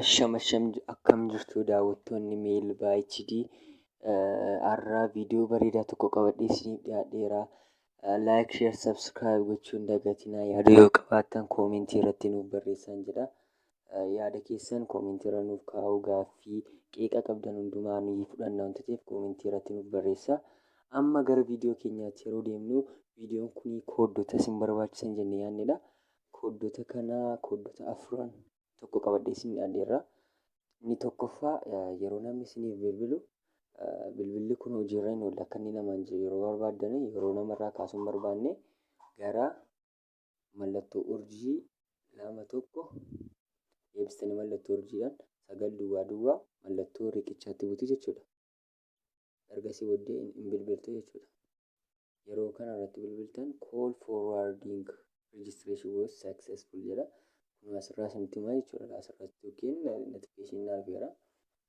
Asham asham akkam jirtu daawwattoonni Meel HD har'a viidiyoo bareedaa tokko qabadhee isiniif dhiyaadheera. Laayik, sheer, sabskiraayib gochuun dagatinaa yaada yoo qabaattan koomentii irratti nuuf barreessaan jedha. Yaada keessan koomentii irra nuuf kaa'uu gaaffii qeeqa qabdan hundumaa ni fudhanna waan ta'eef koomentii irratti nuuf barreessaa. Amma gara viidiyoo keenyaatti yeroo deemnu viidiyoon kun kooddota isin barbaachisan jennee yaannedha. Kooddota kana kooddota afran tokko qabadhee isin dhiyaadheerra. Inni tokkoffaa yeroo namni isiniif bilbilu bilbilli kun hojiirra hin oolle akka inni namaan jiru yeroo barbaaddan yeroo namarraa kaasuu hin barbaanne gara mallattoo urjii lama tokko deebistanii mallattoo urjiidhaan sagal duwwaa duwwaa mallattoo riqichaatti butu jechuudha. ergasii booddee hin hin bilbiltu jechuudha. Yeroo kana irratti bilbiltan call forwarding registration was successful jedha. Kun asirraa isinitti himaa jechuudha. Asirratti yookiin notification na dhufeera.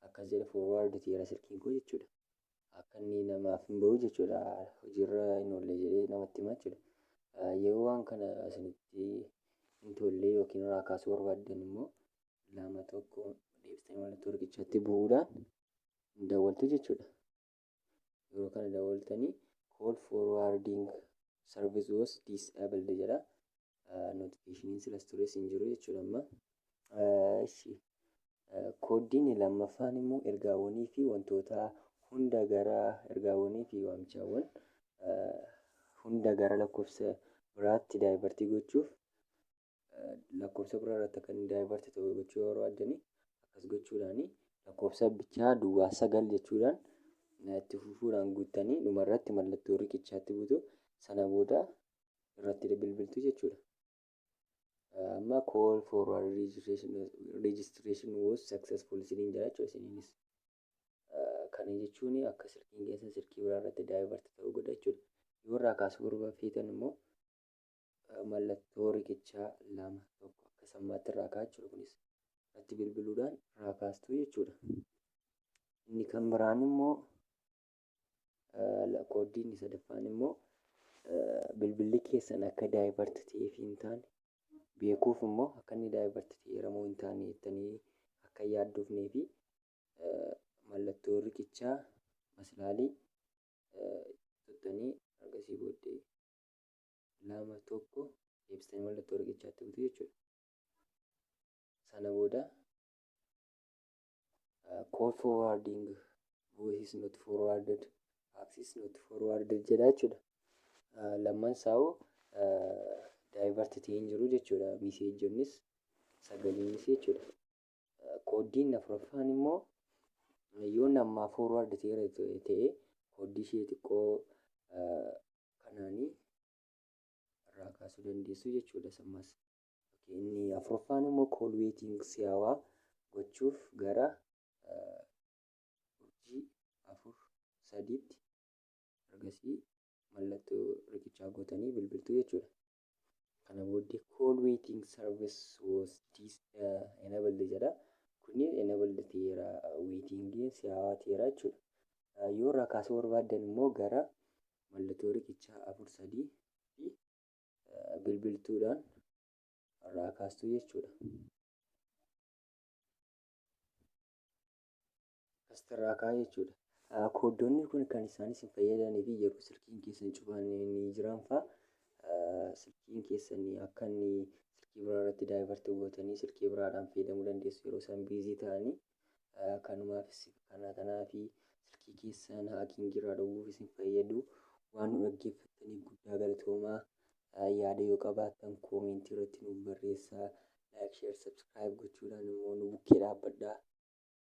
Akkas jedha forward ta'eera silkiin koo jechuudha. Akka inni namaaf hin bahu jechuudha. Hojiirra hin oolle jedhee namatti himaa jechuudha. Ah, Yeroo waan kana isinitti hin tolle yookiin irraa kaasuu barbaaddan immoo lama tokko deebistanii networkichatti bu'uudhaan hin dawwaltu jechuudha. Yeroo kana dawwaltanii call forwarding service was disabled jedha. Notificationin silas tures hin jiru jechuudha amma. Ishi kooddiin lammaffaan immoo ergaawwanii fi wantoota hunda gara ergaawwanii fi waamichaawwan hunda gara lakkoofsa biraatti daayivartii gochuuf lakkoofsa biraa irratti akka inni divert ta'u gochuu yoo barbaaddani akkas gochuudhaani lakkoofsa bichaa duwwaa sagal jechuudhaan itti fufuudhaan guuttanii dhuma irratti mallattoo riqichaatti buutu sana booda irratti bilbiltu jechuudha. Amma call for registration, registration was successful isiniin jira jechuudha isiniinis. Kana jechuun akka silkiin keessan silkii biraa irratti divert ta'u godha jechuudha. Yoo irraa kaasuu barbaaddan feetan immoo Mallattoo riqichaa 2, 1 akka sammaatti irraa ka'a jechuudha. Kunis irratti bilbiluudhaan irraa kaastuu jechuudha. Inni kan biraan immoo kooddii inni sadaffaan immoo bilbilli keessan akka daayivart ta'ee fi hin taane beekuuf immoo akka inni daayivart ta'eeramoo hin taane jettanii akka yaaddoofnee fi mallattoo riqichaa maslaalii tuttanii argasii booddee lama tokko deebistanii mallattoo riqichaatti butu jechuudha. Sana booda call forwarding voice not forwarded access not forwarded jedha jechuudha. Lamman saa'u divert ta'ee hin jiru jechuudha. Miseejjonnis sagaliinis jechuudha. Kooddii inni afuraffaan immoo yoo nammaa forward ta'eera ta'e kooddii ishee xiqqoo kanaanii irraa kaasuu dandeessu jechuudha sammas. Inni afuraffaan immoo call waiting si'aawaa gochuuf gara urjii afur sadiitti ergasii mallattoo riqichaa gootanii bilbiltuu jechuudha. kana booddee call waiting service was dis enabled jedha kunniin enabled ta'eera waitingiin si'aawaa ta'eera jechuudha yoo irraa kaasuu barbaaddan immoo gara mallattoo riqichaa afur sadii fi bilbiltuudhaan irraa kaastuu jechuudha. Asirraa kaa jechuudha. Koodonni kun kan isaan isin fayyadanii fi yeroo silkiin keessan cufaan ni jiran fa'a silkiin keessan akka inni silkii biraa irratti daayivartii gootanii silkii biraadhaan fayyadamuu dandeessu yeroo isaan biizii ta'anii kanumaaf kana kanaa fi silkii keessan haakiin jiraa dhowwuuf isin fayyadu waan nu dhaggeeffattaniif guddaa galatoomaa yaada yoo qabaattan koomentii irratti nuuf barreessaa laayik sheer sabskiraayib gochuudhaan immoo nu bukkee dhaabbadhaa.